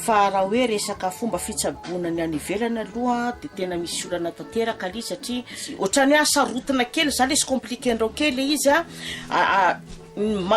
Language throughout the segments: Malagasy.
Fa raha hoe resaka fomba fitsaboana ny any ivelany aloha dia tena misy olana tanteraka aloha satria ohatrany hoe sarotana kely za lesy compliqué andrao kely le izy a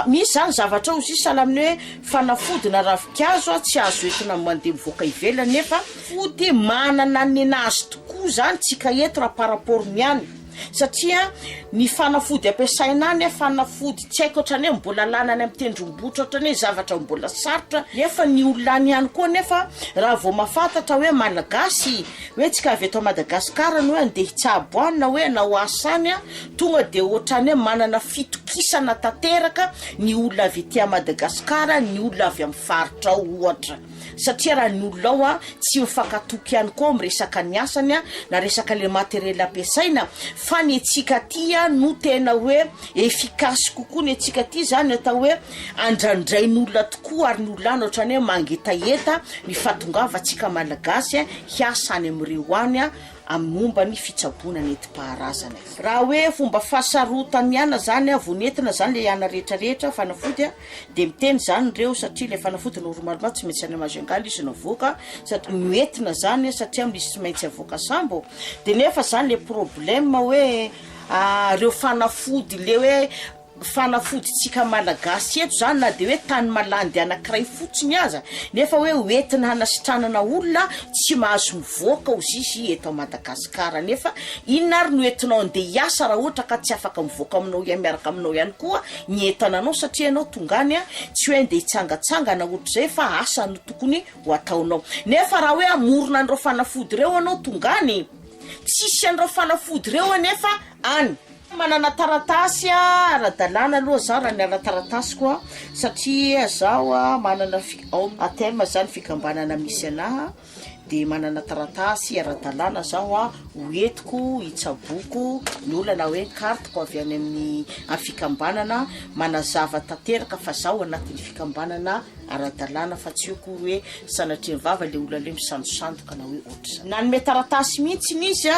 misy zany zavatra ao izy sahala amin'ny hoe fanafody na ravinkazo a tsy azo entina mande mivoaka ivelany nefa fody manana ny nazy tokoa zany tsika eto raha par rapport ny any Satria ny fanafody ampiasaina any fanafody tsy haiko otrany hoe mbola lany any amin'ny tendrombohitra otrany hoe zavatra mbola sarotra nefa ny olona any ihany koa nefa raha vao mahafantatra hoe malagasy hoe tsika avy eto Madagascar no hoe andeha hitsabo any na hoe hanao asa any an tonga dia otrany hoe manana fitokisana tanteraka ny olona avy ety Madagascar ny olona avy amin'ny faritra ao ohatra. Satria raha ny olona ao tsy mifankatoky ihany koa amin'ny resaka ny asany na resaka le materiel ampiasaina fa ny antsika aty no tena hoe efficace kokoa ny antsika aty zany atao hoe andrandrain'olona tokoa ary ny olona any ohatrany hoe mangetaheta ny fahatongavantsika malagasy hiasa any amin'ireo any amin'ny momba ny fitsaboana nentim-paharazana e! Raha hoe fomba fahasarotany ihany zany vao nentina zany le ana rehetra rehetra fanafody a! Dia miteny izany ireo satria ilay fanafody normalement tsy maintsy any maha jungle izy no avoaka satria no entina izany satria misy tsy maintsy avoaka sambo dia nefa izany ilay problème hoe ireo fanafody ilay hoe fanafodintsika malagasy eto izany na dia hoe tany malandy anankiray fotsiny aza nefa hoe ho entina hanasitranana olona tsy mahazo mivoaka ho zisy eto Madagasikara nefa inona ary no entinao andeha hiasa raha ohatra ka tsy afaka mivoaka aminao ihany miaraka aminao ihany koa ny entana anao satria ianao tonga any tsy hoe andeha hitsangatsangana hoatr'izay fa asa no tokony ho ataonao nefa raha hoe hamorona an'ireo fanafody ireo ianao tonga any tsisy an'ireo fanafody ireo anefa any. Manana taratasy ara-dalàna aloha zah raha ny ara-taratasiko a satria zaho a manana fi- ao ATM zany fikambanana misy anaha. dia manana taratasy ara-dalàna zaho ho entiko hitsaboako ny olana hoe kartiko avy any amin'ny fikambanana manazava tanteraka fa zaho anatin'ny fikambanana ara-dalàna fa tsy eo koa hoe sanatria vava le olona le misandosandoka na hoe ohatr'izany. Nanome taratasy mihitsy izy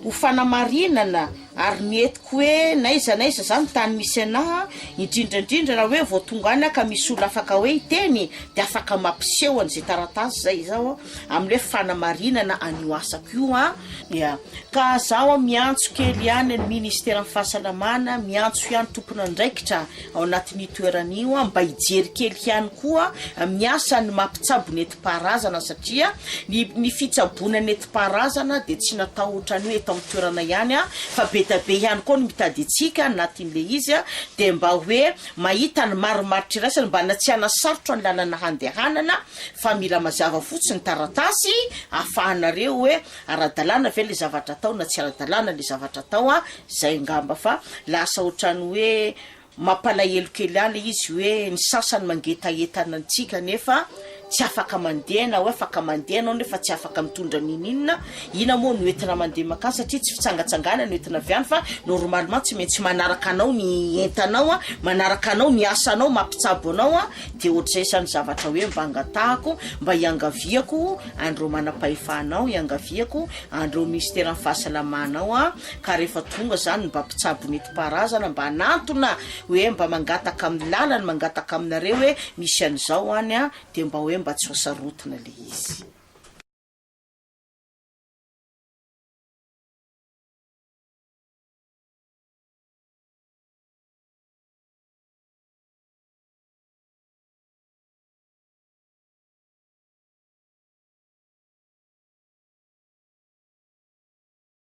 ho fanamarinana Ary ny hetiko hoe n'aiza n'aiza zany tany misy anah, indrindra indrindra raha hoe vao tonga any aho ka misy olona afaka hoe hiteny de afaka mampiseho an'izay taratasy zay izaho amin'ny hoe fanamarinana an'io asako io an, ya, ka zaho an miantso kely ihany ny ministeran'ny fahasalamana, miantso ihany tompon'andraikitra ao anatin'io toerana io an mba hijery kely ihany koa amin'ny asan'ny mampitsabo ny. nentim-paharazana satria ny ny fitsaboana nentim-paharazana dia tsy natao ohatran'ny hoe eto amin'ny toerana ihany fa be dia be ihany koa ny mitady antsika anatin'ilay izy dia mba hoe mahita ny marimaritra iraisana mba hanatsiahana sarotra ny lalana handehanana fa mila mazava fotsiny ny taratasy ahafahanareo hoe ara-dalàna ve ilay zavatra atao na tsy ara-dalàna ilay zavatra atao an! izay angamba fa lasa ohatran'ny hoe Mampalahelo kely any izy hoe ny sasany mangetahentana antsika nefa tsy afaka mandeha na hoe afaka mandeha ianao nefa tsy afaka mitondra n'ininona, inona moa no entina mandeha mankany satria tsy fitsangatsanganana no entina avy any fa normalement tsy maintsy manaraka anao ny entanao an, manaraka anao ny asanao mampitsabo anao an, dia ohatr'izay izany zavatra hoe mba angatahako mba hiangaviako an'ireo manam-pahefana ao, hiangaviako an'ireo minisiteran'ny fahasalamana ao an, ka rehefa tonga zany ny mba mpitsabo netim-paharazana mba hanantona hoe mba mangataka amin'ny lalany mangataka aminareo hoe misy an'izao any a dia mba hoe mba tsy ho sarotana le izy.